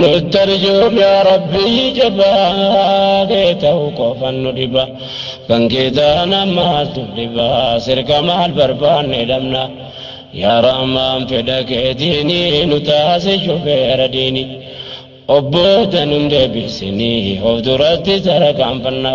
Nuttarjuuf yaa rabbii jabaa kee ta'u qofan nu dhiba kan kee taana maaltu dhiba sirka maal barbaanne dhabna yaa rahmaan fedha keetiini nu taasi shufeera diini obbooda nun deebisini of duratti tarkaanfanna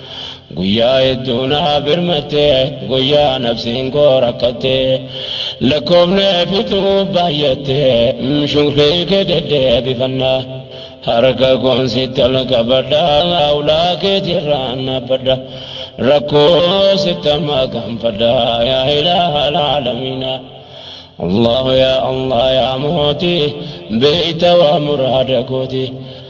Guyyaa hedduu naa birmatte guyyaa nafsiin koo rakkatte lakkoofnee fixuu baay'atte shukrii kee deddeebifanna harka koon sitti ol qabadha ulaa keetirraan naabbadha rakkoo sitti makanfadha yaa ilaaha alaalamiina Allahu yaa Allah yaa mootii beeyta waa muraada kooti